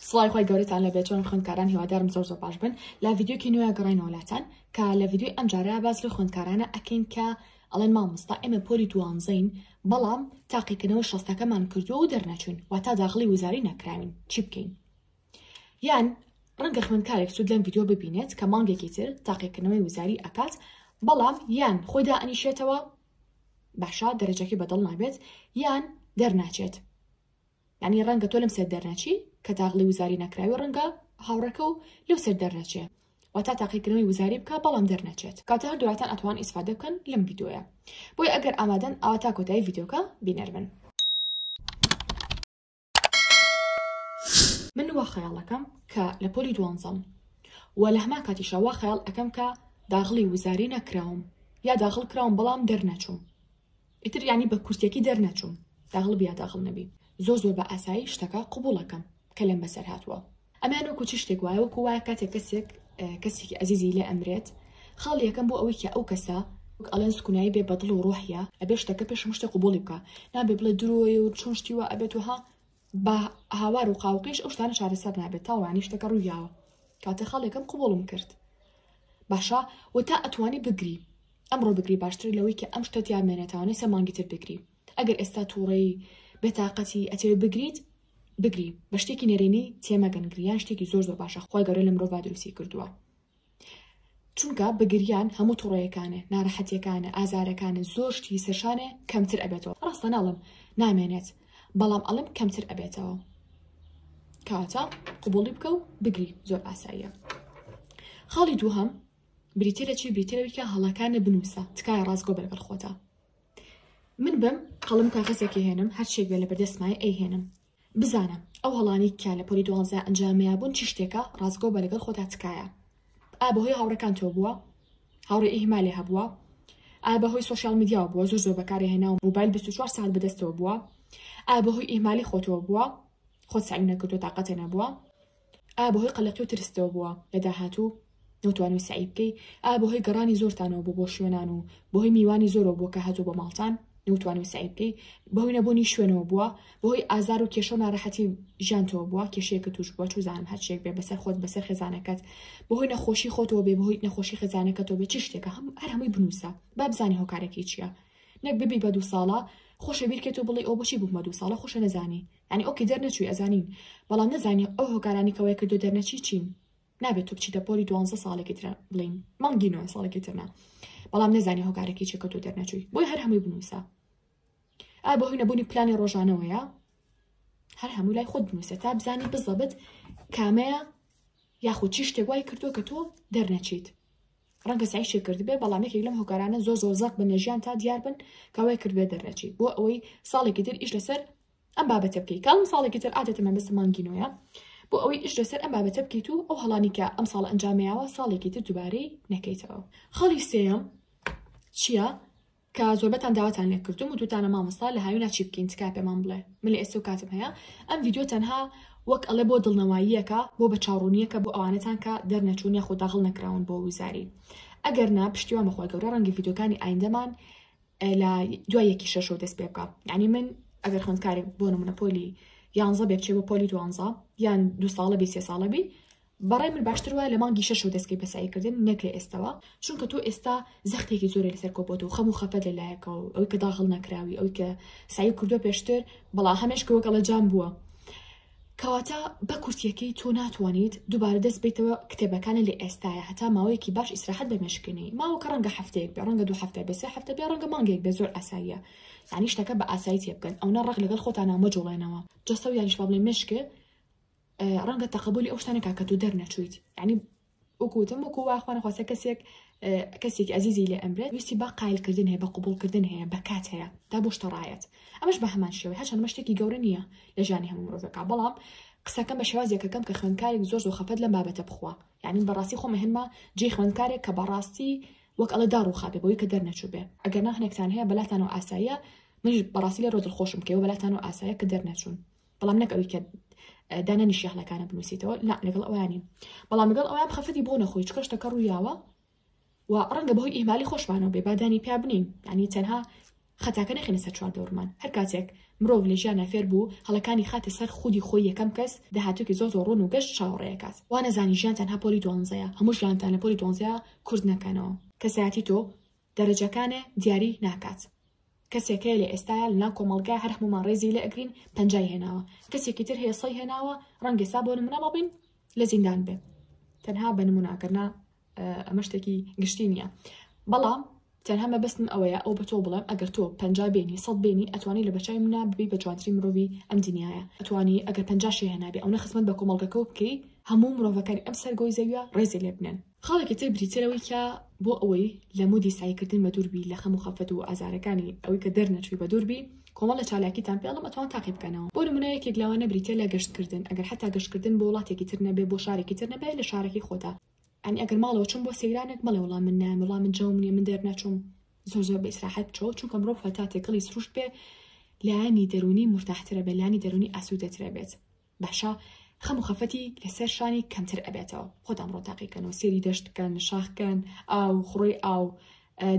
سڵاوی خوای گەورەتان لێ بێت چۆن خوێندکاران هیوادارم زۆر زۆر باش بن لە ڤیدیۆکی نوێ گەڕینەوە لاتان کە لە ڤیدیۆی ئەم جارە باس لە خوێندکارانە ئەکەین کە ئەڵێن مامۆستا ئێمە پۆلی دوانزەین بەڵام تاقیکردنەوە شەستەکەمان کردووە و دەرنەچوین واتا داخلی وزاری نەکراوین چی بکەین یان ڕەنگە خوێندکارێک سوود لەم ڤیددیو ببینێت کە مانگێکی تر تاقیکردنەوەی وزاری ئەکات بەڵام یان خۆیدا ئەنیشێتەوە باشە دەرەجەکەی بەدڵ نابێت یان دەرناچێت یانی ڕەنگە تۆ لەم سەر دەرنەچی کە تاغڵی وزاری نەکراوی ڕەنگە هاوڕەکە و لەو سەر دەرنەچێ واتا تاقیکردنەوەی وزاری بکە بەڵام دەرنەچێت کاتە هەر دواتان ئەتوان ئیسفادە بکەن لەم ڤیدۆیە بۆی ئەگەر ئامادەن ئاوا تا کۆتایی ڤیدۆکە بینەر بن من وا خەیاڵەکەم کە لە پۆلی دوانزەم و لە هەما کاتیشە وا خەیاڵ ئەەکەم کە داغڵی وزاری نەکراوم یا داغڵ کراوم بەڵام دەرنەچوم ئیتر یانی بە کورتیەکی دەرنەچووم داغلب یا داغڵ نەبی زۆر زۆر بە ئاسایی شتەکە قبوڵەکەم کە لێم بەسەر هاتووە ئەمەیان وەکو چ شتێک وایە وەکو وایە کاتێک کەسێک کەسێکی ئەزیزی لێ ئەمرێت خاڵی یەکەم بۆ ئەوەی کە ئەو کەسە وەک ئەلێن سکونایی بێ بەدڵ و ڕۆحە ئەبێ شتەکە پێش مشتە قوبڵی بکە نابێ بڵێ درۆیە و چۆن شتی وە ئەبێت وها با هاوار و قاوقیش ئەو شتانە چارەسەر نابێت تاوە یانی شتەکە ڕوویاوە کاتێ خاڵێکم قوبوڵم کرد باشە و تا ئەتوانی بگری ئەمڕۆ بگری باشتر لەوەی کە ئەم شتە تیا مێنێتاوانێ سێ مانگی تر بگری ئەگەر ئێستا تووڕەی بێتاقەتی ئەتێ بگریت بگری بە شتێکی نەرێنی تێمەگەن گریان شتێکی زۆر زۆر باشە خۆی گەورە لە مرۆڤ دروستی کردووە چونکە بە گریان هەموو توڕەیەکانێ ناڕەحەتیەکانە ئازارەکانە زۆر شتی سەرشانێ کەمتر ئەبێتەوە ڕاستە ناڵم نامێنێت بەڵام ئەڵم کەمتر ئەبێتەوە کاتە قوبڵی بکە و بگری زۆر ئاساییە خاڵی دووهەم بریتە لە چی بریتەوەی کە هەڵەکانە بنووسە تکایە ڕاستگۆ بەرگەڵ خۆتە من بم قەڵم کاغەزێکی هێنم هەرچێک بێ لە بەردەستمای ئەیهێنم بزانە ئەو هەڵانەی کە لە پۆلی دوانزە ئەنجامیان بوون چ شتێکە ڕاستگۆ بە لەگەڵ خۆتا تکایە ئا بەهۆی هاوڕێکانتەوە بووە هاوڕێ ئیهمالێ هەبووە ئا بەهۆی سۆشیال میدیاوە بووە زۆر زۆر بەکارێ هێنا و موبایل 24 ساعت بەدەستەوە بووە ئا بەهۆی ئیهمالی خۆتەوە بووە خۆت سەعی نەکردو تاقەتێ نەبووە ئایا بەهۆی قەلەقی و ترستەوە بووە لە داهاتوو نەوتوانیوە سەعی بکەی؟ ئایا بەهۆی گەڕانی زۆرتانەوە بوو بۆ شوێنان و بەهۆی میوانی زۆرەوە بووە کە هاتووە بۆ ماڵتان نەوتوانیوە سەعی بکەی؟ بەهۆی نەبوونی شوێنەوە بووە؟ بەهۆی ئازار و کێشە و ناڕەحەتی ژیانتەوە بووە کێشەیەکە تووش بووە چوزانم هەر شتێک بێ بەسەر خۆت بەسەر خێزانەکەت بەهۆی نەخۆشی خۆتەوە بێ بەهۆی نەخۆشی خێزانەکەتەوە بێ چ شتێکە هەم هەر هەمووی بنووسە با بزانین هۆکارەکەی چییە نەک ببی بە دوو ساڵە خۆشە بیرکەیت و بڵێی ئەو بۆچی بوومە دوو ساڵە خۆشە نەزانی یانی ئۆکی دەرنەچوی ئەزانین بەڵام نەزانی ئەو هۆکارانی کە وای کردوە دەرنەچی چین نابێت تو بچیتە پۆلی دوانزە ساڵێکی ترە بڵین مانگی نۆ ساڵێکی ترنا بەڵام نەزانی هۆکارێکی چێکە تۆ دەرنەچووی بۆی هەر هەمووی بنووسە ئا بۆ هی نەبوونی پلانی ڕۆژانەوەیە هەر هەموو لای خۆت بنووسە تا بزانی بزەبت کامەیە یاخود چی شتێک وای کردووە کە تۆ دەرنەچیت ڕەنگە سایشی کردبێ بەڵام یەکێک لەم هۆکارانە زۆر زۆر زەق بن لە ژیان تا دیار بن کەوای کردبێ دەرنەچی بۆ ئەوەی ساڵێکی تر ئیش لەسەر ئەم بابەتە بکەی کاڵم ساڵێکی تر عادەتە مەبەستە مانگی نۆیە بۆ ئەوەی ئیش لەسەر ئەم بابەتە بکەیت و ئەو هەڵانی کە ئەم ساڵ ئەنجامیاوە ساڵێکی تر دووبارەی نەکەیتەوە خەڵی سێم چییە کە زۆربەتان داواتان لێ کردم و دوتانە مامۆستا لە هاوینا چی بکەین تکا پێمان بڵێ من لە ئێستا و کاتم هەیە ئەم یددیو تەنها وەک ئەڵێ بۆ دڵنەواییەکە بۆ بە چاڕوونیەکە بۆ ئەوانەتان کە دەرنەچوون یاخۆ داغڵ نەکراون بۆ وزاری ئەگەر نا پشتیوان بەخوای گەورە ڕەنگی یددیوکانی ئایندەمان لە دوای یەکی شەشەوە دەست پێ بکە یعنی من ئەگەر خوندکارێک بۆ نمونە پۆلی یانزە بێ بچێ بە پۆلی دوانزە یان دو ساڵە بی سێ ساڵە بی بەڕێ من باشتر وە لە مانگی شەش و دەستکەی بەساییکردن نەک لە ئێستەوە چونکە تۆ ئێستا زەختێکی زۆرە لەسەر کۆپۆت و خەم و خەفەت لە لایەکەوە ئەوی کە داغڵ نەکراوی ئەوی کە سعی کردو پێشتر بەڵا هەمێش کەوەکەڵە جام بووە کەواتە بە کورتیەکەی تۆ ناتوانیت دوبارە دەست بەیتەوە کتێبەکانە لە ئێستایا هەتا ماوەیەکی باش ئیسراحەت بە مێشکە نێی ماوەکە ڕەنگە هەفتەیەک بێ ڕەنگە دوو هەفتە بێ سێ هەفتە بێ ڕەنگە مانگێک بێ زۆر ئاساییە یانی شتەکە بە ئاسایی تێ بگەن ئەونە ڕق لەگەڵ خۆتانا مەجوڵێنەوە جەستە و یانیش با بڵێ مێشکێ ڕەنگە تەقەبولی ئەو شتانە کا کە تۆ دەرنەچوویت یانی وەکو وتم وەکو وا خوانەخواستە کەسێک کەسێکی ئەزیزی لێ ئەمرێت ویستی با قایلکردن هەیە بە قوبولکردن هەیە بە کات هەیە تا بۆ شتەڕایەت ئەمەش بە هەمان شێوەی هەچەند مە شتێکی گەورە نییە لە ژانی هەموو مرۆڤەکە بەڵام قسەکەم بە شێوازێکەکەم کە خوێندکارێک زۆر زۆر خەفەت لە بابەتە بخوا یعنی بەڕاستی خۆمە هەنما جێ خوێندکارێک کە بەڕاستی وەک ئەڵە دا ڕووخابێ بۆی کە دەرنەچوو بێ ئەگەر ناخنێکتان هەیە بەلاتانەوە ئاساییە منیش بەڕاستی لە ڕۆدل خۆشم کەەوە بەلاتانەوە ئاسایە کە دەرنەچوون بەڵام نەک ئەوی کە دانانیشی هەڵەکانە بنووسیتەوە لا لەگەڵ ئەوانی بەڵام لەگەڵ ئەویان بخەفەتی بۆ نەخۆی چکە شتەکە ڕوویاوە و ڕەنگە بەهۆی ئیمالی خۆشمانەوە بێ بادانی پیا بنین ینی تەنها خەتاکە نەخێنە سەر چوار دەورمان هەر کاتێک مرۆڤ لە ژیان نافێر بوو هەڵەکانی خاتە سەر خودی خۆی یەکەم کەس داهاتوکی زۆ زۆ ڕۆن و گەشت چاوەڕێکات وانەزانی ژیان تەنها پۆلی دوانزەیە هەموو ژیانتان لە پۆلی دوانزەیە کورد نەکەنەوە کەسایەتی تۆ دەرەجەکانێ دیاری ناکات کەسێک هەیە لە ئێستایا لەناو کۆمەڵگا هەر هەموومان ڕێزی لێ ئەگرین پەنجای هێناوە کەسێکی تر هەیە سەی هێناوە ڕەنگە سا بۆ نمونە مابین لە زیندان بێ تەنها بە نموناگەرنا ئەمە شتێکی گشتی نییە بەڵام تەنها مەبەستم ئەوەیە ئەو بە تۆ بڵێم ئەگەر تۆ پنج بێنی سەد بێنی ئەتوانی لە بەچای منە ببی بە جوانتری مرۆڤی ئەم دنیاە ئەتوانی ئەگەر پنجشی هێنابێ ئەو نە خزمەت بە کۆمەڵگەکە بکەی هەموو مرۆڤەکانی ئەم سەرگۆی زەویە ڕێزی لێ بنێن خاڵێکی تر بریتیە لەوەی کە بۆ ئەوەی لە مودی سعیکردن بە دووربی لە خەم و خەفەت و ئازارەکانی ئەوەی کە دەرنەچووی بە دووربی کۆمەڵ لە چالاکیتان پێڵم ئەتوان تاقی بکەنەوە بۆ نمونە یەکێک لەوانە بریتە لە گەشتکردن ئەگەر حتا گەشتکردن بۆ وڵاتێکی تر نەبێ بۆ شارێکی تر نەبێ لە شارەکەی خۆتا ئەنی ئەگەر ماڵەوە چم بۆ سەیرانێک مەڵێ وڵام من نام وڵام من جەوم نیە من دەرنەچوم زۆر زۆر بە ئیسراحەت بچەوە چونکە مرۆڤ هەتا تێکەڵی سروشت بێ لایانی دەرونی مرتاحترە بێ لانی دەرونی ئاسوودەترە بێت باشە خەم و خەفەتی لەسەر شانی کەمتر ئەبێتەوە خۆتان بڕۆ تاقیکەن و سێری دەشت بکەن شاخکەن ئاو خڕۆی ئاو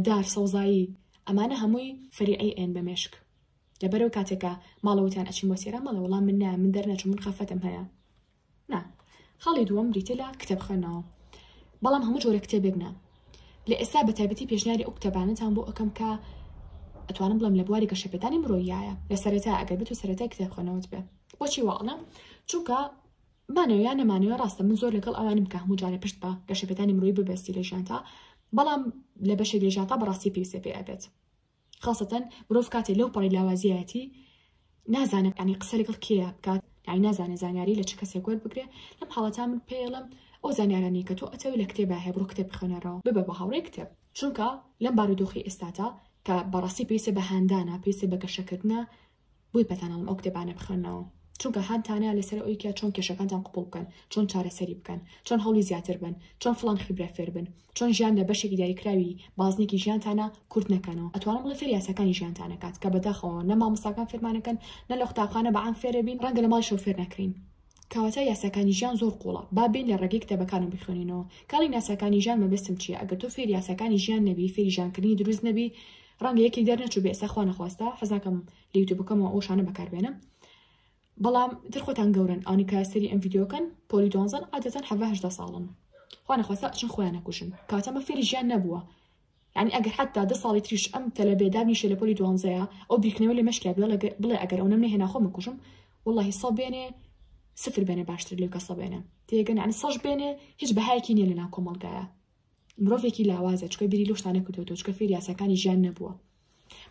دار سەوزایی ئەمانە هەمووی فەریعی ئێن بە مێشک لەبەرەو کاتێکە ماڵەوەتان ئەچین بۆ سێرا مەڵە وەڵام من نایە من دەرنەچ من خەفەتم هەیە نا خاڵی دووەم بریتە لە کتێب خوێنەوە بەڵام هەموو جۆرە کتێبێک نا لە ئێستا بە تایبەتی پێشنیاری ئەو کتێبانەتان بۆ ئەەکەم کە ئەتوانم بڵم لە بواری گەشەپێدانی مرۆیایە لە سەرەتا ئەگەر بێت و سەرەتای کتێب خوێنەوەت بێ بۆچی واڵم چونکە مانەوەیان نەمانەوە ڕاستە من زۆر لەگەڵ ئەوانم کە هەموو جارە پشت بە گەشەپێدانی مرۆی ببەستی لە ژیانتا بەڵام لە بەشێک لە ژیانتا بەڕاستی پێویستە پێ ئەبێت خاصەتەن مرۆڤ کاتێ لەو پەڕی لاوازیەتی نازانم ئەنی قسە لەگەڵ کێە بکات یعنی نازانێت زانیاری لە چ کەسێک وەر بگرێ لەم حاڵەتا من پێڵم ئەو زانیارانی کە تۆ ئەتەوی لە کتێبە هەیە بڕۆ کتێب بخوێنەرەوە ببە بە هاوڕێ کتێب چونکە لەم بارودۆخی ئێستاتا کە بەڕاستی پێویستە بە هاندانە پێویستە بە گەشەکردە بۆی پێتان ئەڵم ئەو کتێبانە بخوێنەوە چونکە هان تانەیە لەسەر ئەوی کە چۆن کێشەکانتان قوپڵ بکەن چۆن چارەسەری بکەن چۆن هەڵی زیاتر بن چۆن فلان خیبرە فێر بن چۆن ژیان لە بەشێکی دیاریکراوی بازنێکی ژیانتانە کورت نەکەنەوە ئەتوانم بڵێ فێر یاساکانی ژیانتانە کات کە بەداخەوە نە مامۆستاکان فێرمانەکەن نە لە قوتابخانە بە عام فێرە بین ڕەنگە لە ماڵ شەو فێر نەکرین کەواتە یاساکانی ژیان زۆر قوڵە با بین لە ڕێگەی کتێبەکانم بخوێنینەوە کاڵی ناساکانی ژیان مەبەستم چییە ئەگەر تۆ فێر یاساکانی ژیان نەبی فێری ژیانکردنی دروست نەبی ڕەنگە یەکێک دەرنەچوو بێ ئێستا خوا نەخواستە حەز ناکەم لە یوتیوبەکەمەوە ئەو شانە بەکار بێنم بەڵام تر خۆتان گەورن ئەوانی کە سەری ئەم ڤیددیوکەن پۆلی دۆنزن عادەتەن حەڤهدا ساڵن خوا نەخواستە ئەچن خۆیان نەکوژن کاتەمە فێری ژیان نەبووە یعنی ئەگەر حتا دە ساڵی تریش ئەم تەلە بێدابنیشە لە پۆلی دوانزەیە ئەو بیرکردنەوە لە مەشکیا بڵێ ئەگەر ئەو نەم نهێنا خۆ مەکوژم واللهی سە بێنێ سفر بێنێ باشتر لێ کەسە بێنێ تێگەن عنی سەش بێنێ هیچ بەهایکی نیە لە ناو کۆمەلگایە مرۆڤێکی لاوازە چکە بیری لۆ شتانە کردوێتەوە چکە فێری یاساکانی ژیان نەبووە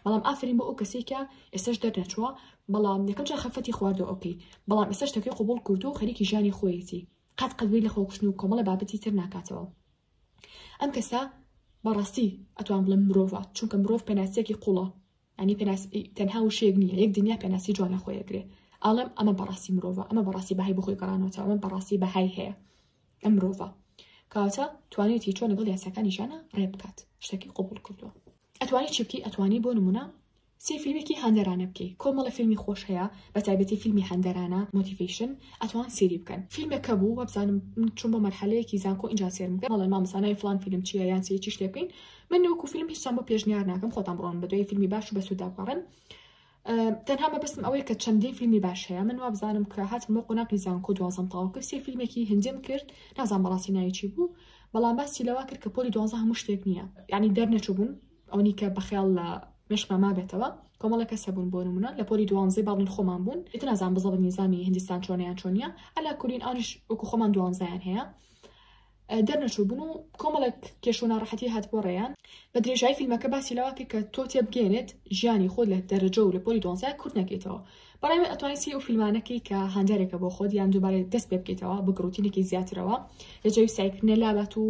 بەڵام ئافرین بۆ ئەو کەسی کە ئێستش دەرنەچووە بەڵام یەکەم جا خەفەتی خواردەوە ئۆکەی بەڵام ئێستا شتەکەی قوبول کردو و خەریکی ژیانی خۆیەتی قەت قەدوی لە خۆکوشتن و کۆمەڵە بابەتی تر ناکاتەوە ئەم کەسە بەڕاستی ئەتوان بڵم مرۆڤە چونکە مرۆڤ پێناسیەکی قوڵە ئەنی پێناس تەنها و شێک نیە یەک دنیا پێناسی جوانە خۆیەگرێ ئاڵم ئەمە بەڕاستی مرۆڤە ئەمە بەڕاستی بەهای بخۆی گەڕانەوە ئەمە بەڕاستی بەهای هەیە ئەم مرۆڤە کەواتە توانێتی چۆن لەگەڵ یاساکانی ژیانە ڕێ بکات شتەکی قوبول کردووە ئەتوانی چی بکەی ئەتوانی بۆ نمونە سێ فیلمێکی هەندەرانە بکەی کۆمەڵە فیلمی خۆش هەیە بە تایبەتی فیلمی هەندەرانە مۆتیڤیشن ئەتوان سێری بکەن فیلمەکە بوو وەبزانم من چون بۆ مەرحەلەیەکی زانکۆ اینجا سێرم بکە مەڵێ مامزانای فلان فیلم چیە یان سێ چیش لێ بکەین من نەوەکو فیلم هیچم بۆ پێشنیار ناکەم خۆتان بڕۆن بە دوای فیلمی باش و بەسووداپەڕن تەنها مەبەستم ئەوەیە کە چەندین فیلمی باش هەیە من وابزانم کە هاتم بۆ قۆناقی زانکۆ دوازم تەواو کرد سێ فیلمێکی هندیم کرد نازان بەڕاستی ناویچی بوو بەڵام باسی لەوا کرد کە پۆلی دوازە هەموو شتێک نییە یعنی دەرنەچوو بووم ئەونی کە بەخیاڵ لە مشکمە مابێتەوە کۆمەڵە کەسە بوون بۆ نمونە لە پۆلی دوانزەی باڵین خۆمان بوون ئیتر نازان بزەڵ نیزامی هندستان چۆنیان چۆنیە ئەلا کورین ئەوش وەکو خۆمان دوانزیان هەیە دەرنەچووبوون و کۆمەڵێک کێش و ناڕەحەتی هاتبووە ڕێیان بە درێژایی فیلمەکە باسی لەوە کرد کە تۆ تێبگەێنێت ژیانی خۆت لە دەرەجە و لە پۆلی دۆنزای کورت نەکەیتەوە بەڵام ئەتوانین سی و فیلمانەکەی کە هاندارێکە بۆ خۆت یان دووبارە دەست پێ بکەیتەوە بە گڕوتینێکی زیاترەوە لە جەوی سایکردنە لابات و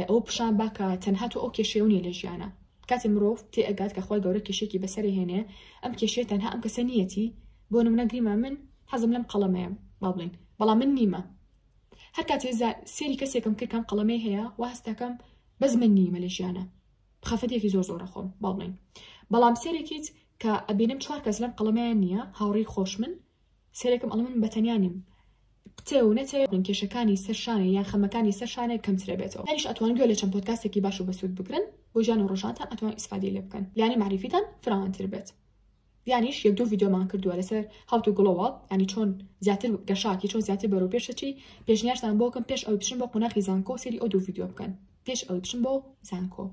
ئەو پیشان باکە تەنها تۆ ئەو کێشەیە نیە لە ژیانە کاتی مرۆڤ تێ ئەگات کە خۆی گەورە کێشێکی بەسەر هێنێ ئەم کێشێ تەنها ئەم کەسە نیەتی بۆ نمونە گریما من حەزم لەم قەڵەمەیە با بڵین بەڵام من نیمە هەر کاتێ زا سێری کەسێکم کرد کام قەڵەمەی هەیە وا هەستەکەم بەس من نی مەلێشیانە خەفەتێکی زۆر زۆرە خۆم باڵین بەڵام سێرێکیت کە ئەبینم چوار کەس لەم قەڵەمەیان نییە هاوڕی خۆش من سێرێکم ئەڵم من بەتەنیا نیم قتێ و نەتێ من کێشەکانی سەرشانە یان خەمەکانی سەرشانە کەمترە بێتەوە هەریش ئەتوان گوێ لە چەند پۆتکاستێکی باش و بەسوود بگرن بۆ ژیان و ڕژانتان ئەتوان ئیسفادی لێ بکەن لانی معریفیتان فراوانتر بێت یانیش یەک دوو ڤیدیۆمان کردووە لەسەر How to Glow Up یانی چۆن زیاتر گەشاکی چۆن زیاتر بەرەو پێشەچی پێشنیارتان بۆ بکەم پێش ئەوەی بچن بۆ قۆناخی زانکۆ و سەیری ئەو دوو ڤیدیۆ بکەن پێش ئەوەی بچن بۆ زانکۆ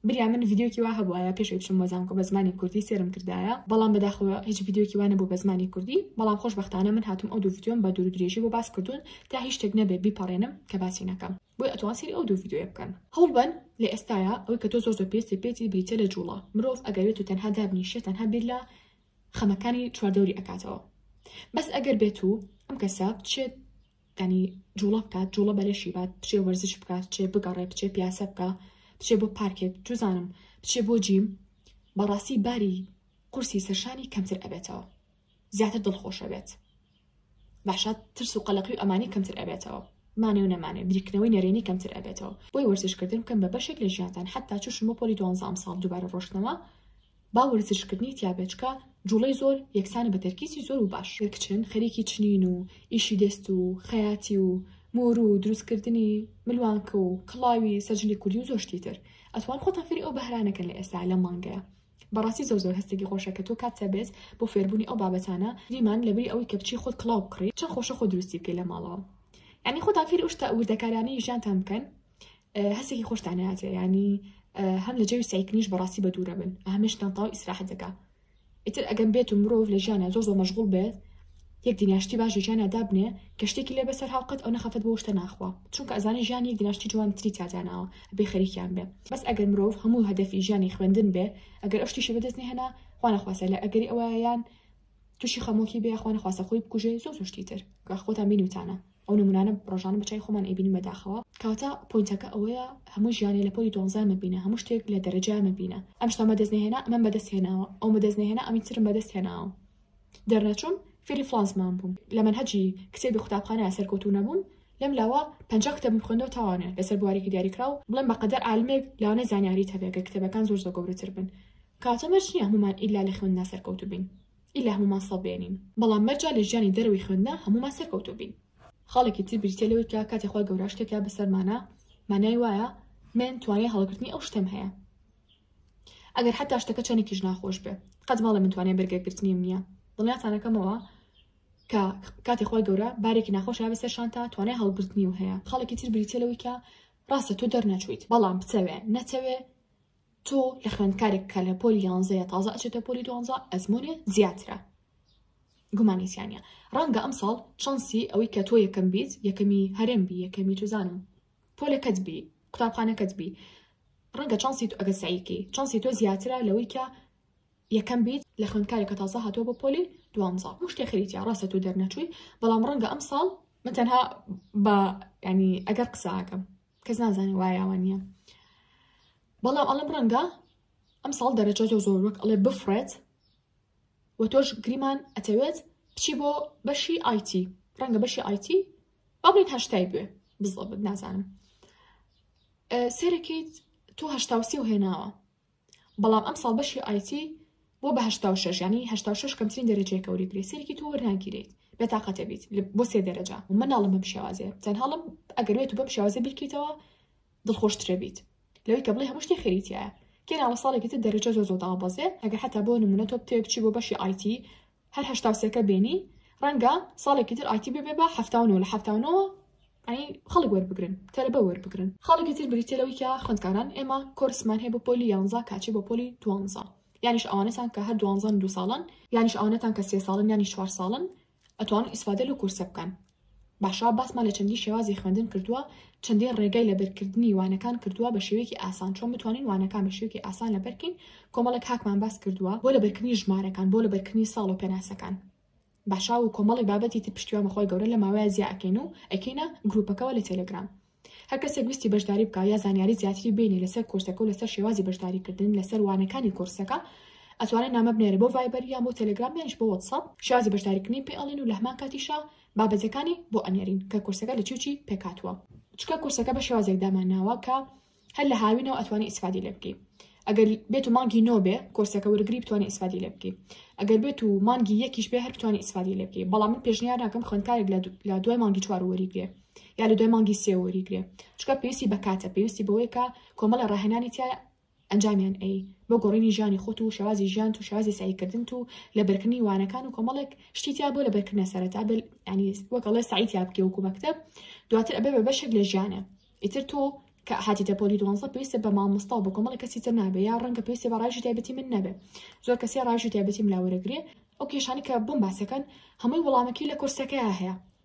بریا من ڤیدیۆکی وا هەبوایە پێش ئەوی بچم بۆ زانکۆ بە زمانی کوردی سێرم کردایە بەڵام بەداخەوە هیچ ڤیدیۆکی وا نەبوو بە زمانی کوردی بەڵام خۆشبەختانە من هاتووم ئەو دوو ڤیدیۆم بە دوور و درێژی بۆ باس کردوون تا هیچ شتێک نەبێت بیپەڕێنم کە باسی نەکەم بۆیە ئەتوان سەیری ئەو دوو ڤیدیۆیە بکەن. هەوڵبەن لە ئێستایا ئەوەی کە تۆ زۆر زۆر پێویستت پێیەتی بریتیە لە جوڵە، مرۆڤ ئەگەر بێت و تەنها دابنیشێت تەنها بیر لە خەمەکانی چواردەوری ئەکاتەوە بەس ئەگەر بێت و ئەم کەسە بچێت ینی جوڵە بکات جوڵە بەلەشی بات بچێ وەرزش بکات چێ بگەڕێ بچێ پیاسە بکە بچێ بۆ پارکێک جوزانم بچێ بۆ جیم بەڕاستی باری قورسی سەرشانی کەمتر ئەبێتەوە زیاتر دڵخۆش ئەبێت باشە ترس و قەلەقی و ئەمانی کەمتر ئەبێتەوە مانێ و نەمانێ بریکنەوەی نەرێنی کەمتر ئەبێتەوە بۆی وەرزشکردن بکەن بە بەشێک لە ژیانتان حتا چوشن بۆ پۆلی دوانزە ئەمساڵ دووبارە ڕۆشتنەوە با وەرزشکردنی تیابێچکە جوڵەی زۆر یەکسانە بە تەرکیزی زۆر و باش کچن خەریکی چنین و ئیشی دەست و خەیاتی و مۆر و دروستکردنی ملوانکە و کڵاوی سەرجلی کوردی و زۆشتی تر ئەتوان خۆتان فری ئەو بەهرانەکەن لە ئێستا لە مانگەیە بەڕاستی زۆر زۆر هەستێکی خۆشە کە تۆ کاتت هەبێت بۆ فێربوونی ئەو بابەتانە گریمان لەبری ئەوەی کە بچی خۆت کڵاو بکڕی چەند خۆشە خۆ دروستی بکەی لە ماڵەوە یعنی خۆتان فێری ئەو شتە وردەکارانەی ژیانتان بکەن هەستێکی خۆشتان هاتێ ینی هەم لە جەوی سایکنیش بەڕاستی بە دوورە بن هەمشتان تاو ئیسراحەتەکە ئیتر ئەگەم بێت و مرۆڤ لە ژیانە زۆر زۆر مەشغول بێت یەک دینار شتی باش لە ژیانا دابنێ کە شتێکی لێ بەسەر هاو قەت ئەونە خەفەت بۆ شتە ناخوا چونکە ئەزانێ ژیان یەک دینار شتی جوانی تری تیا داناوە ئەبێ خەریکیان بێ بەس ئەگەر مرۆڤ هەموو هەدەفی ژیانی خوێندن بێ ئەگەر ئەو شتیشی بەدەست نەهێنا خوا نەخواستە لە ئەگەری ئەوەیە یان تووشی خەمۆکی بێ خوا نەخواستە خۆی بکوژێ زۆر زۆر شتی تر کە خۆتان بینیوتانە ئەو نمونانە ڕۆژانە بە چای خۆمان ئەیبینین بەداخەوە کاتە پۆینتەکە ئەوەیە هەموو ژیانی لە پۆلی دوانزە مەبینە هەموو شتێک لە دەرەجە مەبینە ئەم شتە مەدەست نەهێنا ئەمەم بەدەست هێناوە ئەو مەدەست نەهێنا ئەمی ترم بەدەست هێناوە دەرنەچووم فێری فڵان زمان بووم لە مەنهەجی کتێبی قوتابخانە سەرکەوتوو نەبووم لەم لاوە پەنجا کتێبم خوێندەوە تاوانە لەسەر بوارێکی دیاریکراو بڵێم بە قەدەر عالمێک لانەی زانیاریت هەبێ گەر کتێبەکان زۆر زۆر گەورەتر بن کاتە مەرج نییە هەموومان ئیلا لە خوێندنا سەرکەوتوو بین ئیلا هەموومان سەد بێنین بەڵام مەرجە لە ژیانی دەرەوەی خوێندنا هەموومان سەرکەوتوو بین خاڵێکی تر بریتیە لەوەی کە کاتێ خوا گەورە شتێکە بەسەرمانە مانای وایە من توانای هەڵگرتنی ئەو شتەم هەیە ئەگەر حتا شتەکە چەنێکیش ناخۆش بێ قەت ماڵێ من توانێ بەرگەگرتنیم نییە دڵنیاتانەکەمەوە کە کاتی خۆی گەورە بارێکی ناخۆشە بە سەر شانتا توانای هەڵگرتنی و هەیە خاڵێکی تر بریتە لەوەی کە ڕاستە تۆ دەرنەچویت بەڵام بچەوێ نەچەوێ تۆ لە خوێندکارێک کە لە پۆلی یانزەیە تازە ئەچێتە پۆلی دوانزە ئەزمونێ زیاترە گومانیسیانە ڕەنگە ئەم ساڵ چانسی ئەوەی کە تۆ یەکەم بیت یەکەمی هەرێم بی یەکەمی توزانم پۆلەکەت بی قوتابخانەکەت بی ڕەنگە چانسی تو ئەگەر سەعیکەی چانسی تۆ زیاترە لەوەی کە یەکەم بیت لە خوێندکارێک کە تازە هاتووە بۆ پۆلی دوانزە هەموو شتێ خەریتە ڕاستە تو دەرنەچووی بەڵام ڕەنگە ئەم ساڵ من تەنها بە ینی ئەگەر قسەکەم کەس نازانانی وایەوە نییە بەڵام ئەڵم ڕەنگە ئەم ساڵ دەرەجە زۆر زۆر وەک ئەڵێ بفرێت و تۆش گریمان ئەتەوێت بچی بۆ بەشی ئایتی ڕەنگە بەشی ئایتی ئەڵێت هەشتای بێ بزڵبت نازانم سێرەکەیت تۆ هەشتا و سێ و هێناوە بەڵام ئەم ساڵ بەشی ئایتی بۆ بە هشتا و شش ینی هشتا و شش کەمترین دەرەجەیە کەوری گرێ سێرکی تۆ وەرناگیرێت بێتاقەتە بیت بۆ سێ دەرەجە و مناڵم بەم شێوازێ تەنهاڵم ئەگەروێت و بەم شێوازە بیکەیتەوە دڵخۆش ترێ بیت لەوەی کە بڵێ هەموو شتێ خێری تایە کێ ناوە ساڵێکی تر دەرەجە زۆ زۆ دابەزێ ئەگە حتا بۆ نمونە تۆ بتێ بچی بۆ بەشی ئایتی هەر هەشتا سێکە بێنی ڕەنگە ساڵێکی تر ئایتی ببێ بە هەفتاونەوە لە هەفتاونەوە ئەی خەڵک وەربگرن تەلبە وەربگرن خەڵکی تر بریتە لەوەی کە خوندکاران ئێمە کۆرسمان هەیە بۆ پۆلی یانزا کاچی بۆ پۆلی دوانزە یانیش ئەوانەتان کە هەر دوانزان دو ساڵن یانیش ئەوانەتان کە سێ ساڵن یانی چوار ساڵن ئەتوان ئیسفادە لەو کۆرسە بکەن. باشە باسمان لە چەندین شێوازی خوێندن کردووە چەندین ڕێگای لەبەرکردنی وانەکان کردووە بە شێوەیەکی ئاسان چۆن بتوانین وانەکان بە شێوەیەکی ئاسان لەبەرکەین کۆمەڵێک هاکمان باس کردووە بۆ لەبەرکردنی ژمارەکان بۆ لەبەرکردنی ساڵ و پێناسەکان باشا و کۆمەڵی بابەتی تر پشتیوان بەخوای گەورە لە ماوەیە زیاکەین و ئەکەینە گروپەکەەوە لە تەلەگرام هەر کەسێک ویستی بەشداری بکا یا زانیاری زیاتری بینی لەسەر کۆرسەکە و لەسەر شێوازی بەشداری کردن لەسەر وانەکانی کۆرسەکە ئەتوانێت نامە بنێرێ بۆ ڤایبەر یان بۆ تەلەگرام یانیش بۆ وەتسەپ شێوازی بەشداریکردنی پێ ئەڵێن و لە هەمان کاتیشا بابەتەکانی بۆ ئەنێرین کە کۆرسەکە لە چی و چی پێکهاتووە چونکە کۆرسەکە بە شێوازێک دامانناوە کە هەر لە هاوینەوە ئەتوانی ئیسفادی لێ بکەی ئەگەر بێت و مانگی نۆ بێ کۆرسەکە وەرگری بتوانانی ئیسفادی لێ بکەی ئەگەر بێت و مانگی یەکیش بێ هەر بتوانانی ئیسفادی لێ بکەی بەڵام من پێشنیار ناکەم خوێندکارێک لە دوای مانگی چوار وەریگرێ یا لە دوای مانگی سێ وەریگرێ چکە پێویستی بە کاتە پێویستی بەوەیکە کۆمەڵە ڕاهێنانی تیا ئەنجامیان ئەی بۆ گۆڕینی ژیانی خۆت و شێوازی ژیان و شێوازی سعیکردن و لە بەرکردنی وانەکان و کۆمەڵێک شتیتیا بۆ لە بەرکردە سەرەتا بل ینی وەکەڵێ سعیتیا بکە وکو مەکتب دواتر ئەبێ بە بەشێک لە ژیانە ئیتر تۆ کە هاتیتە پۆلی دوانزە پێویستە بە مامۆستا و بە کۆمەڵی کەسی تر نابێ یا ڕەنگە پێویستە بە ڕژی تایبەتی من نەبێ زۆر کەسی ڕژی تایبەتی ملاوەرەگرێ ئەو کێشانی کە بۆم باسەکەن هەمووی وەڵامەکی لە کورسەکەی هەیە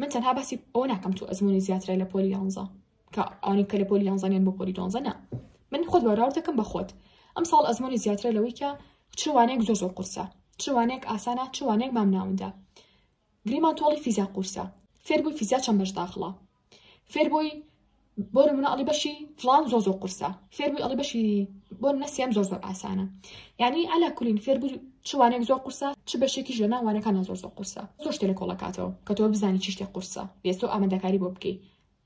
من تەنها باسی ئەوە ناکەم تۆ ئەزمونی زیاترە لە پۆلی یانزە کە ئەوانی کە لە پۆلی یانزانیان بۆ پۆلی دۆنزە نا من خۆت بەراورد دەکەم بە خۆت ئەم ساڵ ئەزمونی زیاترە لەوەی کە چوانێک زۆر زۆر قورسە چوانێک ئاسانە چوانێک مام ناوندا گریمان تۆڵی فیزا قورسە فێربووی فیزا چەند بەش داخڵە فێربووی بۆ نمونە ئەڵی بەشی فلان زۆ زۆ قورسە فێربووی ئەڵی بەشی بۆ نەسیێم زۆر زۆر ئاسانە یعنی ئەلا کولین فێربوو چوانێک زۆر قورسە چ بەشێکیش لە ناوانەکانە زۆر زۆر قورسە زۆر شتێ لە کۆڵەکاتەوە کە تۆ بزانانی چشتێ قورسە بێستۆ ئامادەکاری بۆ بکەیت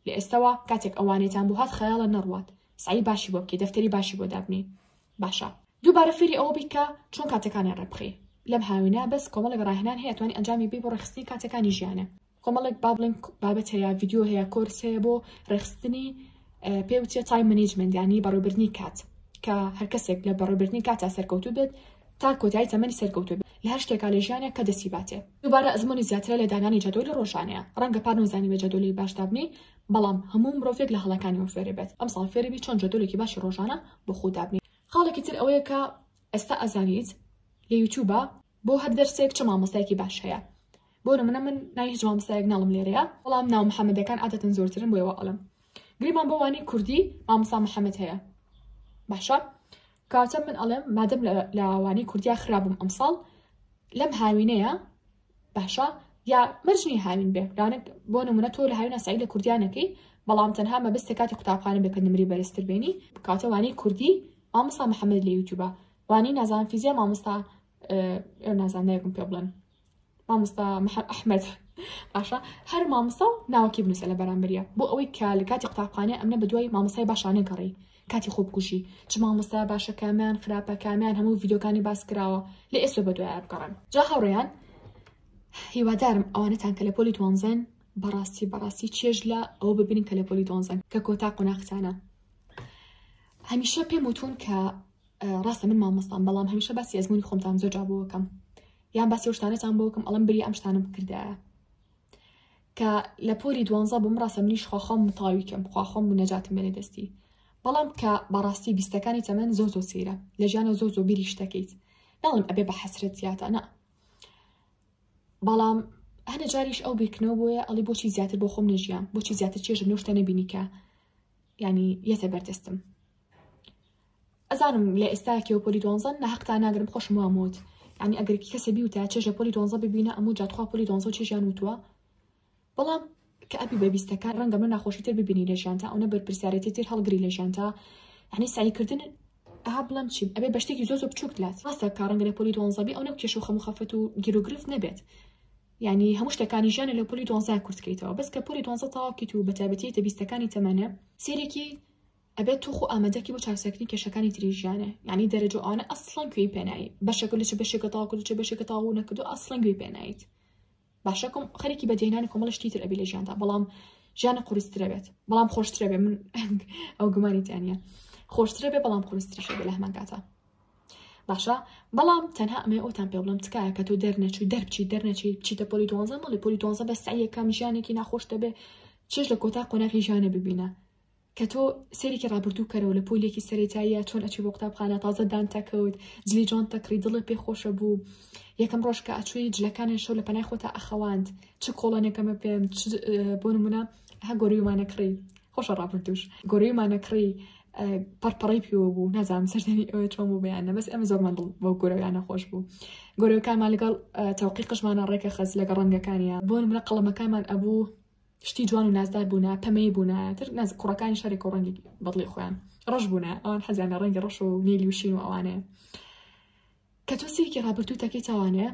لە ئێستەوە کاتێک ئەوانێتان بۆ هات خەیاڵە نەڕوات سعی باشی بۆ بکەیت دەفتەری باشی بۆ دابنی باشە دووبارە فێری ئەوە بیکە چۆن کاتەکانیان ڕێبخی لەم هاوینە بەس کۆمەڵێک ڕاهێنان هەیە توانی ئەنجامی بی بۆ ڕێخستنی کاتەکانی ژیانە کۆمەڵێک با بڵێن بابەت هەیە ڤیددیو هەیە کۆرس هەیە بۆ ڕێخستنی پێ وچە تای منیجمنت ینی بەڕێبرنی کات کە هەر کەسێک لە بەڕێبرنی کاتا سەرکەوتو بێت تا کۆتایی تەمەنی سەرکەوتو بێت لە هەر شتێکا لە ژیانە کە دەسی باتێ دووبارە ئەزمموی زیاترە لە دانانی جەدۆلی ڕۆژانەیە ڕەنگە پار نەوزانی بە جەدۆلی باش دابنی بەڵام هەموو مرۆڤێک لە هەڵەکانی و فێرە بێت ئەم ساڵ فێربی چۆن جەدۆلێکی باشی ڕۆژانە بۆ خۆ دابنی خاڵێکی تر ئەوەیە کە ئێستا ئەزانیت لە یوتوبە بۆ هەر دەرسێک چ مامۆستایکی باش هەیە بۆ نمونە من ناوی هیچ مامۆستایەک ناڵم لێرەیە بەڵام ناو محەمەدەکان عادەتەن زۆرترن بۆیە وا ئەڵێم گریمان بۆ وانەی کوردی مامۆستا محەمەد هەیە باشە کاتە من ئەڵێم مادەم لە وانەی کوردیا خراپم ئەمساڵ لەم هاوینەیە باشە یا مەرجنی هاوین بێ رانک بۆ نمونە تۆ لە هاوینە سای لە کوردیانەکەی بەڵام تەنها مەبست لە کاتی قوتابخانە بێکە نمری بەرزتر بێنی کاتەوانی کوردی مامۆستا محەممەد لە یوتیوبە وانی نازان فیزیا مامۆستا نازانەیەکم پێ بڵێن مامۆستا محمد احمد باشە هەر مامۆستا و ناوەکی بنووسە لە بەرامبەریا بۆ ئەوەی کە لە کاتی قوتابخانە ئەمنە بە دوای مامۆستای باشانە گەڕی کاتی خۆبکوژی چ مامۆستا باشە کامیان خراپە کامیان هەموو ڤیدۆکانی باس کراوە لە ئێستا بە دوای بگەڕن جا هاوڕێیان هیوادارم ئەوانەتان کە لە پۆلی دوانزەن بەڕاستی بەڕاستی چێژ لە ئەو ببینین کە لە پۆلی دۆنزەن کە کۆتا قۆناختانە هەمیشە پێم وتون کە ڕاستە من مامۆستان بەڵام هەمیشە باسی ئەزمموی خۆمتان زۆر جابووەکەم یان باسی ئەو شتانەتان بۆ بکەم ئەڵم بری ئەم شتانە بکردایە کە لە پۆلی دوانزە بووم ڕاستە منیش خواخۆم متاوی کەم خواخۆم و نەجاتم بێنێ دەستی بەڵام کە بەڕاستی بیستەکانی تەمەن زۆر زۆر سەیرە لە ژیانە زۆر زۆر بیری شتەکەیت ناڵم ئەبێ بە حەسرەت زیاتە نا بەڵام هەنە جاریش ئەو بیرکردنەوە بۆیە ئەڵی بۆچی زیاتر بۆ خۆم نەژیان بۆچی زیاتر چێژە نوشتە نەبینی کە ینی یەتە بەردەستم ئەزانم لە ئێستا کێو پۆلی دوانزەن لە هەقتان ناگرم خۆشم وام وت یعنی ئەگەر کەسە بیوتە چێژ لە پۆلی دوانزە ببینە ئەموو جا تخوا پۆلی دوانزە و چێژیان وتووە بەڵام کە ئەبی بە بیستەکان ڕەنگە من ناخۆشی تر ببینی لە ژیانتا ئەوە بەرپرسیارێتی تر هەڵگری لە ژیانتا یعنی سعیکردن ئەها بڵم چی ئەبێ بە شتێکی زۆ زۆ بچووک لات ڕاستە کە ڕەنگە لە پۆلی دوانزەبی ئەو نەو کێش و خەم و خەفەت و گیرۆگرفت نەبێت یعنی هەموو شتەکانی ژیانە لە پۆلی دوانزای کورتکەیتەوە بەس کە پۆلی دوانزە تەواوکەیت و بەتابەتیتە بیستەکانی تەمەنە سێرێکی ئەبێت تۆ خۆ ئامادەکی بۆ چاکساکنی کێشەکانی تری ژیانێ یعنی دەرەجە و ئەوانە ئەسڵەن کوێی پێنایی بەشەکە لە چ بەشێکە تاوا کردو چ بەشێکە تاوا و نەکردو ئەسڵەن گوێی پێنایت باشە کۆم خەرێکی بەدیهێنانی کۆمەڵە شتی تر ئەبی لە ژیاندا بەڵام ژیانە قورسترە بێت بەڵام خۆشترە بێ من ئەو گومانی تیانە خۆشترە بێ بەڵام قورستریشە بێ لە هەمان کاتە باشە بەڵام تەنها ئەمە ئەوتان پێ بڵم تکایە کە تۆ دەرنەچوو دەربچی دەرنەچی بچیتە پۆلی دوانزە مەڵی پۆلی دوانزە بە سعیەکەم ژیانێکی ناخۆش دەبێ چێش لە کۆتا قۆناغی ژیانە ببینە کە تۆ سەیرێکی ڕابردوو بکەرەوە لە پۆلێکی سەرێتاییە چۆن ئەچی بۆ قوتابخانە تازە دان تەکەوت جلی جۆن تەکری دڵێ پێ خۆشە بوو یەکەم ڕۆژ کە ئەچووی جلەکانیان شەو لە پەنای خۆتا ئەخەواند چ کۆڵەنێکەمە پێم بۆ نمونە هە گۆریومانە کڕی خۆشە ڕابردوش گۆریومانە کڕی پەرپەڕی پێوە بوو نازانم سەردانی ئەوە چۆن بوو بەیانە بەس ئەمە زۆرمان دڵ بۆ گۆرەویانە خۆش بوو گۆرەکانمان لەگەڵ تەوقی قژمانە ڕێکە خەز لەگە ڕەنگەکانیان بۆ منە قەڵەمەکانمان ئەبوو شتی جوان و نازدار بوونە پەمەیی بوونایە تر ناز کوڕەکانی شارێک و ڕەنگی بەدڵی خۆیان ڕەش بوونە ئەوان حەزیان لە ڕەنگی ڕەش و نیلی و شین و ئەوانەیە کە تۆ سیرکی ڕابردوو تەکەی تاوانێ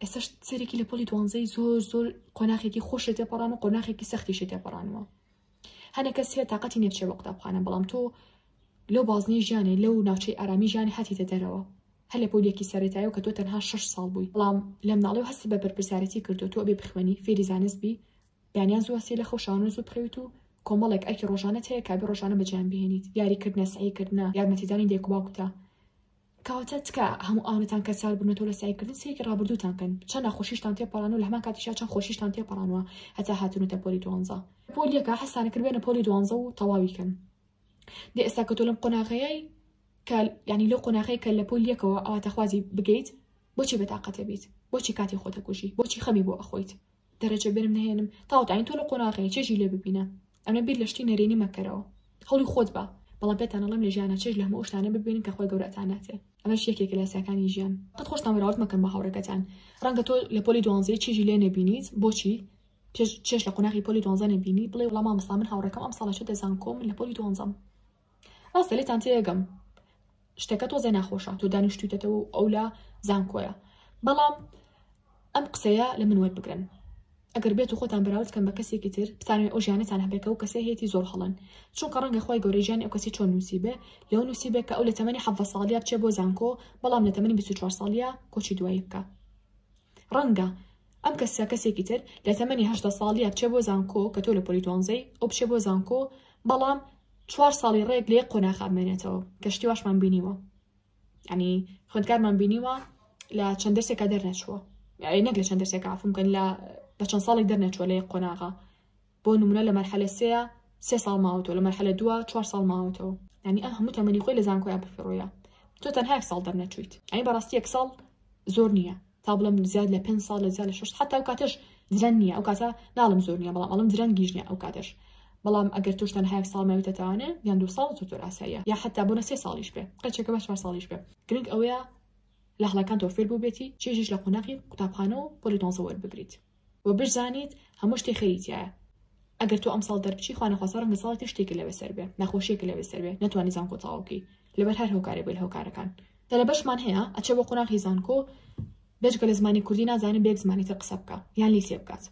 ئێستا سەرێکی لە پۆلی دوانزەی زۆر زۆر قۆناخێکی خۆشی تێپەڕان و قۆناخێکی سەختی شی تێپەڕانەوە هەنێک کەس هەیە تااقەتی نێچێ بە قوتابخانە بەڵام تۆ لەو بازنەی ژیانێ لەو ناوچەی ئارامی ژیانێ هاتیتە دەرەوە هەر لە پۆلیەکی سەرەتایەوە کە تۆ تەنها شەش ساڵ بووی بەڵام لە مناڵیەوە هەستت بە بەرپرسیارەتی کردووە تۆ ئەبێ بخوێنی فێری زانست بی بەیانیان زوو هەستێ لە خەو شانۆ زوو بخەویت و کۆمەڵێک ئەرکی ڕۆژانەت هەیە کابێ ڕۆژانە بەجیان بهێنیت یاریکردنە سەعیکردنە یارمەتیدانی دایک و باوکتە کەواتە تکا هەموو ئەوانەتان کە سار بوونەتەوە لە سعیکردن سەیەکی ڕابردووتان کەن چەند ناخۆشیشتان تێپەڕان و لە هەمان کاتیشا چەند خۆشیشتان تێپەڕانوە هەتا هاتنوتە پۆلی دوانزە پۆلیەکە حەسانەکرد بێنە پۆلی دوانزە و تەواوی کەن دە ئێستا کە تۆ لەم قۆناغەیەی کە ینی لەو قۆناغەیە کە لە پۆل یەکەوە ئاواتەخوازی بگەیت بۆچی بەتاقەتە بیت بۆچی کاتی خۆتە کوژی بۆچی خەمی بۆ ئەخۆیت دەرەجە بێنم نهێنم تاوتاین تۆ لە قۆناغەیە چێژی لێ ببینە ئەمە بیر لە شتی نەرێنی مەکەرەوە هەڵی خۆت بە بەڵام پێتانەڵم لە ژیانە چێژ لە هەموو شتانە ببینن کە خۆی گەورەتان ناتێ ئەمەش یەکێک لە ساکانی ژیان قەت خۆشتان وەراورد مەکەن بە هاوڕەکەتان ڕەنگە تۆ لە پۆلی دوانزەی چێژی لێ نەبینیت بۆچی چش چش لە قوناغی پۆلی دوانزە نەبینی بڵێ وڵا مامۆستا من هاوڕێکەم ئەم ساڵە چێتە زانکۆ من لە پۆلی دوانزەم ڕاستە لێتان تێگەم شتەکە تۆزێ ناخۆشە تۆ دانیشتویتەتەوە و ئەو لە زانکۆیە بەڵام ئەم قسەیە لە من وەربگرن ئەگەر بێت و خۆتان بەراورد کەم بە کەسێکی تر بتانوێت ئەو ژیانەتان هەبێکە و کەسێ هەیەی زۆر هەڵن چونکە ڕەنگە خخوای گەورە ژیانی ئەو کەسی چۆن نووسی بێ لەو نووسی بێ کە ئەو لە تەمەنی حەڤە ساڵیا بچێ بۆ زانکۆ بەڵام لە تەمەنی 24 ساڵیا کۆچی دوایی بکە ڕەنگە ئەم کەسە کەسێکی تر لە تەمەنی هەژدە ساڵیە بچێ بۆ زانکۆ کە تۆ لە پۆلی دوانزەی ئەو بچێ بۆ زانکۆ بەڵام چوار ساڵی ڕێک لێ قۆناخا بمێنێتەوە کە شتی واشمان بینیوە ینی خوندکارمان بینیوە لە چەند دەرسێکا دەرنەچووە نەک لە چەند دەرسێک عفوم کەن لە بە چەند ساڵێک دەرنەچووە لە یەک قۆناغا بۆ نمونە لە مەرحەلە سێیا سێ ساڵ ماوەتەوە لە مەرحەلە دووە چوار ساڵ ماوەتەوە یعنی ئا هەموو تەمەنی خۆی لە زانکۆیان پڕفڕۆیە تۆ تەنها یەک ساڵ دەرنەچوویت ئەی بەڕاستی یەک ساڵ زۆر نییە تا بڵم زیاد لە پێنج ساڵ لە زیاد لە شش حتا و کاتەش درەنگ نییە ئەو کاتە ناڵم زۆر نییە بەڵام ئەڵم درەنگیش نییە ئەو کاتەش بەڵام ئەگەر توش تەنها یەک ساڵ ماویتە تاوانێ یان دوو ساڵ زۆر زۆر ئاساییە یا حتا بۆ نە سێ ساڵیش بێ قەچێکە بە چوار ساڵیش بێ گرنگ ئەوەیە لە هەڵەکان تۆ فێر بووبێتی چێژیش لە قۆناغی قوتابخانە و پۆلی دۆنزە وەربگریت وە بشزانیت هەموو شتێ خێری تیایە ئەگەر تۆ ئەمساڵ دەربچی خوانەخواسە ڕەنگە ساڵی تر شتێکی لەوێ سەر بێ نەخۆشیەکە لەوێ سەر بێ نەتوانی زانکۆ تەواو بکەی لەبەر هەر هۆکارێک بێ لە هۆکارەکان تەلەبەشمان هەیە ئەچێ بۆ قۆناغی زانکۆ بێجگە لە زمانی کوردی نازانێ بە یەک زمانی تر قسە بکە یان لی تێ بکات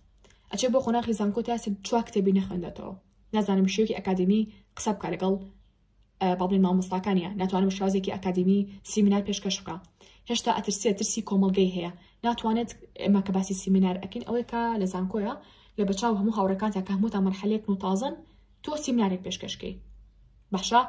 ئەچێ بۆ قۆناغی زانکۆ تا چوا کتێبی نەخوێندێتەوە نازانم شێوکی ئەکادمی قسە بکە لەگەڵ بەڵێن مامۆستاکانە ناتوانم شازێکی ئەکادمی سیمینار پێشکەش بکە هێشتا ئەترسێت ترسی کۆمەلگەی هەیە ناتوانێت ئێمە کە باسی سیمینار ئەکەین ئەوەی کە لە زانکۆیە لە بەچاو هەموو هاوڕەکان تا کەموتان مەرحەلێک و تازن تۆ سیمینارێک پێشکەشکەی باشە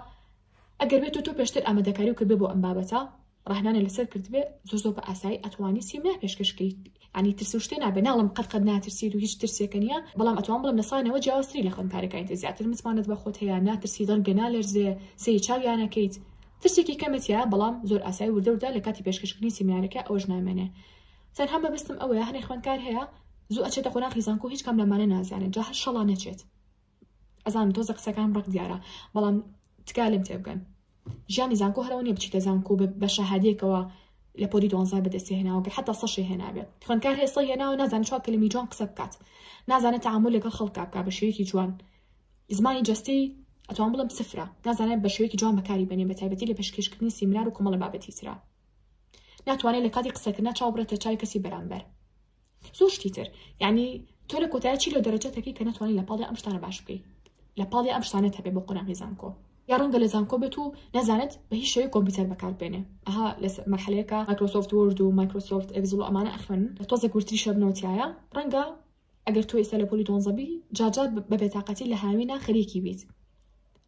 ئەگەر بێت تۆ پێشتر ئامادەکاری و کردێ بۆ ئەم بابەتە ڕەهنانە لەسەر کردبێ زۆر زۆر بە ئاسایی ئەتوانی سیمنا پێشکەش بکەیت ینی ترس و شتێ نابێ ناڵم قەت قەت ناترسیت و هیچ ترسێکە نیە بەڵام ئەتوان بڵم لەسانەوە جیاوازتری لە خوێندکارەکانی تر زیاتر متمانەت بە خۆت هەیە ناترسی دڵگە نالەرزێ سەیری چاویانەکەیت ترسێکی کەمەتیە بەڵام زۆر ئاسایی وردە وردە لە کاتی پێشکەشکردنی سیمینارەکە ئەوەش نامێنێ تەنها مەبەستم ئەوەیە هەنێ خوێندکار هەیە زوو ئەچێتە قۆناغی زانکۆ هیچ کام لەمانە نازانێت جا هەر شەڵا نەچێت ئەزانم تۆزێ قسەکانم ڕەق دیارە بەڵام تکا لێم تێبگەن ژیانی زانکۆ هەرەوە نیە بچیتە زانکۆ و بە شەهادەیەکەوە لە پۆلی دوانزای بەدەستی هێناوە گە حتا سەشی هێنابێت خوێندکار هێستا هێناوە نازان چوار کلمی جوان قسە بکات نازانە تعامل لەگەڵ خەڵکا بکە بە شێوەیەکی جوان زمانی جستی ئەتوان بڵم سفرە نازانێت بە شێوەیەکی جوان بەکاری بەنێ بە تایبەتی لە پێشکەشکردنی سیمنار و کۆمەڵە بابەتی ترا ناتوانێت لە کاتی قسەکردنا چاو بڕێتە چای کەسی بەرامبەر زۆر شتی تر یعنی تۆ لە کۆتای چی لە دەرەجە تەکەی کە ناتوانانی لە پاڵی ئەم شتانە باش بکەی لە پاڵی ئەم شتانە هەبێ بۆ قۆناغی زانکۆ یا ڕەنگە لە زانکۆ بێت و نەزانێت بە هیچ شێوەی کۆمپیوتەر بەکاربێنێ ئەها لە مەحلەیەکە مایکرۆسۆفت ورد و مایکرۆسۆفت ئەگزل و ئەمانە ئەخوێن تۆزە گورتری شەبنەوتیایە ڕەنگە ئەگەر تۆ ئێستا لە پۆلی دۆنزەبی جاجار بە بێتاقەتی لە هاوینە خەریکی بیت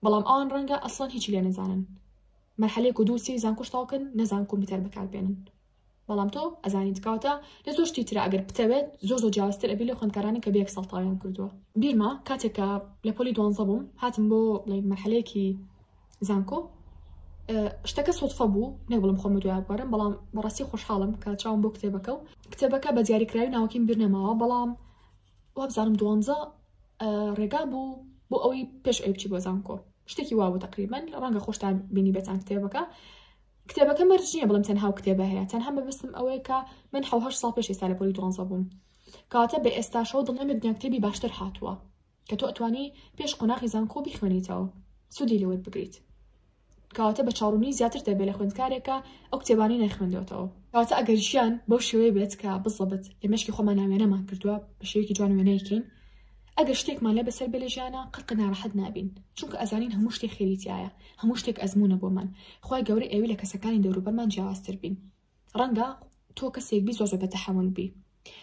بەڵام ئەوان ڕەنگە ئەسڵەن هیچی لێ نەزانن مەحلەیەک و دوو سێ زانکۆش تاوکن نەزان کۆمپیوتەر بەکاربێنن بەڵام تۆ ئەزانیت کەواتە لە زۆر شتی ترە ئەگەر بتەوێت زۆر زۆر جیاوازتر ئەبی لە خوێندکارانە کە بێک سەڵتاویان کردووە بیرمە کاتێک کە لە پۆلی دوانزە بووم هاتم بۆ بڵێ مەحلەیەکی زانکۆ شتەکە سوتفە بوو نە بڵم خۆمە دوای بارم بەڵام بەڕاستی خۆشحاڵم کە چاوم بۆ کتێبەکە و کتێبەکە بە دیاریکراوی ناوکیم بیر نەماوە بەڵام وابزانم دوانزە ڕێگا بوو بۆ ئەوەی پێش ئەوی بچی بۆ زانکۆ شتێکی وابوو تقریبن ڕەنگە خۆشتان بینی بێتان کتێبەکە کتێبەکە مەرج نییە بڵێم تەنها ئەو کتێبە هەیە تەنها مەبەستم ئەوەیە کە من حەو هەشت ساڵ پێش ئێستا لە پۆلی دوانزە بووم کەواتە بە ئێستاشەوە دڵنیام لە دنیا کتێبی باشتر هاتووە کە تۆ ئەتوانی پێش قۆناغی زانکۆ بیخوێنیتەوە سوودی لێ وەربگریت کەواتە بە چاڕوونی زیاتر دەبێت لە خوێندکارێکە ئەو کتێبانی نەخوێندێتەوە کەواتە ئەگەر ژیان بەو شێوەیە بێت کە بزەبت لە مشکی خۆمان ناوێنەمان کردووە بە شێوەیەکی جوان وێنەیەکین ئەگەر شتێکمان لە بەسەر بێ لە ژیانا قەت قەت نارەحەت نابین چونکە ئەزانین هەموو شتێ خێری تیایە هەموو شتێک ئەزموونە بۆمان خوای گەورە ئەیەوێ لە کەسەکانی دەوروبەرمان جیاوازتر بین ڕەنگە تۆ کەسێک بی زۆر زۆر بە تەحەمول بی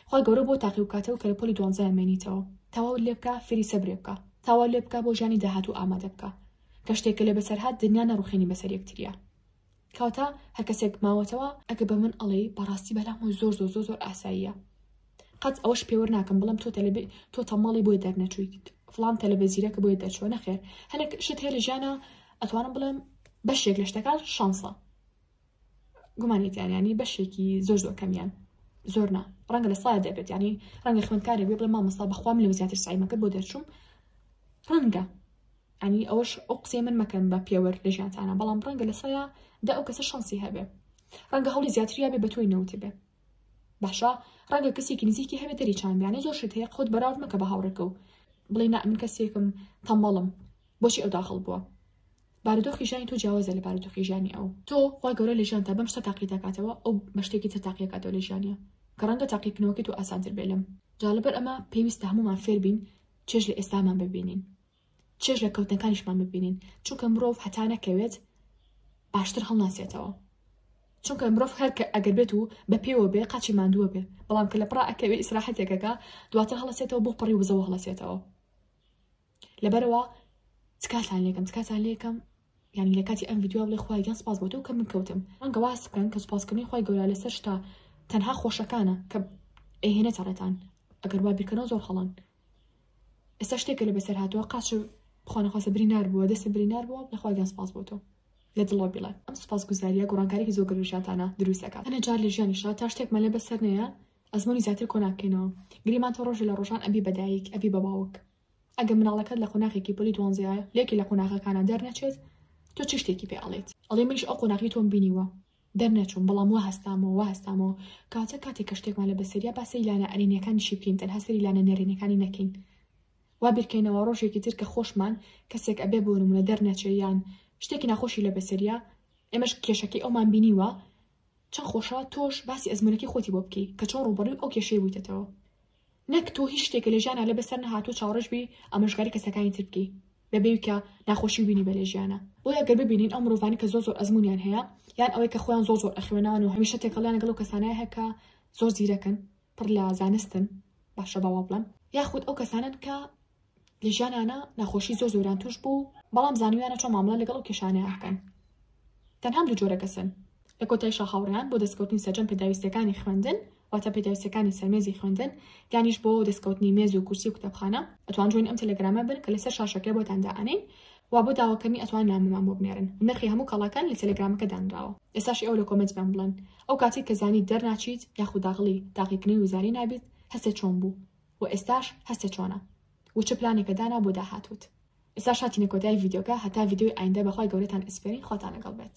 خوای گەورە بۆ تاقی بکاتەوە کە لە پۆلی دوانزەیان مێنیتەوە تەواوت لێ بکا فێری سەبرێ بکە تەواو لێ بکا بۆ ژیانی داهاتوو ئامادە بکە کە شتێک کە لێ بەسەر هات دنیا نەڕوخێنی بەسەر یەکتریا کەواتە هەرکەسێک ماوەتەوە ئەگە بە من ئەڵێی بەڕاستی بەلام و زۆر زۆر زۆر زۆر ئاساییە قەت ئەوەش پێوەر ناکەم بڵم تۆ تەلبێ تۆ تەماڵی بۆی دەرنەچوویت فلان تەلبە زیرەکە بۆی دەرچوە نەخێر هەنێک شت هەیە لە ژیانە ئەتوانم بڵێم بەشێک لە شتەکان شانسە گومانێتیانیانی بەشێکی زۆر زۆر کەمیان زۆر نا ڕەنگە لە سای دەبێت ینی ڕەنگە خوێندکارێک بێ بڵێ مامەستا بەخوام لەو زیاتر سایمەکە بۆ دەرچوم ڕەنگە ئەنی ئەوەش ئەو قسەی من مەکەن بە پێوەر لە ژیانتانە بەڵام ڕەنگە لە سەدا دە ئەو کەسە شەنسی هەبێ ڕەنگە هەوڵی زیاتریا بێ بە تۆی نەوتبێ باشە ڕەنگە کەسێکی نزیکی هەبێ دەری چان بیانە زۆر شت هەیە خۆت بەراورد مەکە بە هاوڕێکە و بڵێ نا من کەسێکم تەمەڵم بۆچی ئەو داخڵ بووە بارودۆخی ژانی تۆ جیاوازە لە بارودۆخی ژانی ئەو تۆ خوا گەورە لە ژیان تا بەم شتە تاقی دەکاتەوە ئەو بە شتێکی تر تاقیەکاتەوە لە ژیانە کە ڕەنگە تاقیکردنەوەکە تۆ ئاسانتر بێ لەم جا لەبەر ئەمە پێویستە هەمومان فێربین چێژ لە ئێستامان ببینین چێژ لە کەوتنەکانیشمان ببینین چونکە مرۆڤ هەتا نەکەوێت باشتر هەڵناسێتەوە چونکە مرۆڤ هەر کە ئەگەر بێت و بە پێوە بێ قاچی مادووە بێ بەڵام کە لە پڕا ئەکەوێ ئیسراحەتێکەکە دواتر هەڵەسێتەوە بۆ پڕی وزەوە هەڵەسێتەوە لەبەرەوە تکاتان لێکم تکاتان لێکم یعنی لە کاتی ئەم یددیو بڵێ خخوای گەن سپاس بۆ تۆ کە من کەوتم ئەنگە واز بکەن کە سپاسکردنی خخوای گەورە لەسەر شتا تەنها خۆشەکانە کە ئەهێنێتە ڕێتان ئەگەر وا بیرکەنەوە زۆر هەڵان ئێستا شتێکە لە بەسەر هاتووە قاچە بخوانەخواسە برینار بووە دەسە برینار بووە لەخوای گەن سپاس بۆ تۆ لە دڵەوە بڵێ ئەم سپاس گوزاریە گۆڕانکارێکی زۆر گەلو ژیانتانە دروستەکە هەنێ جار لە ژیانیشا تا شتێک مەلە بەسەر نەیە ئەزمۆنی زیاتر کۆناکەینەوە گریمان تۆ ڕۆژە لە ڕۆژان ئەبی بەدایک ئەبی بە باوک ئەگە مناڵەکەت لە قۆناخێکی پۆلی دوانزەیە لێکی لە قۆناغەکانە دەرنەچێت تۆ چ شتێکی پێ ئەڵێت ئەڵێ منیش ئەو قۆناغی تۆم بینیوە دەرنەچووم بەڵام وا هەستامەوە وا هەستامەوە کەواتە کاتێک کە شتێکمان لە بەسەر یا با سەیری لانە ئەرێنیەکانی شی بکەین تەنها سەیری لانە نەرێنیەکانی نەکەین وا بیرکەینەوە ڕۆژێکی تر کە خۆشمان کەسێک ئەبێ بۆ نمونە دەرنەچێ یان شتێکی ناخۆشی لە بەسەریە ئێمەش کێشەکەی ئەومان بینیوە چەند خۆشە تۆش باسی ئەزمونەکەی خۆتی بۆ بکەی کە چۆن ڕوبەڕوی ئەو کێشەی بوویتەتەوە نەک تۆ هیچ شتێکە لە ژیانا لە بەسەر نەهاتوە چاوەڕێش بی ئامۆژگاری کەسەکانی تر بکەی بەبێوی کە ناخۆشی بینی بە لە ژیانا بۆیە گەر ببینین ئەو مرۆڤانی کە زۆر زۆر ئەزمونیان هەیە یان ئەوەی کە خۆیان زۆر زۆر ئەخوێنەوەن و هەمیشە تێکەڵیان لەگەڵ و کەسانای هەکە زۆر زیرەکن پڕ لە زانستن باشە باوا بڵێم یاخود ئەو کەسانن کە لە ژیانیانە نەخۆشی زۆر زۆریان توش بوو بەڵام زانیویانە چۆن مامڵە لەگەڵ ئەو کێشانەیان بکەن تەنهام دوو جۆرە کەسن لە کۆتایشا هاوڕیان بۆ دەستکەوتنی سەرجەم پێداویستەکانی خوێندن واتە پێداویستەکانی سەرمێزی خوێندن یانیش بۆ دەستکەوتنی مێز و کورسی و کتێبخانە ئەتوان جوین ئەم تەلەگرامە بن کە لەسەر شاشەکە بۆتان دائەنین وا بۆ داواکردنی ئەتوان نامەمان بۆ بنێرن نرخی هەموو کەڵەکان لە تەلەگرامەکە دانراوە ئێساشی ئەو لە کۆمنت بەم بڵێن ئەو کاتی کە زانی دەرناچیت یاخود داغڵی تاقیکردنی وزاری نابیت هەستێ چۆن بوو و ئێستاش هەستە چۆنە و چ پلانێکە دانا بۆ داهاتووت. ئێستاش هاتینە کۆتایی ڤیدیۆکە هەتا ڤیدیۆی ئایندە بەخوای گەورەتان ئەسپێرین خواتان لەگەڵ بێت.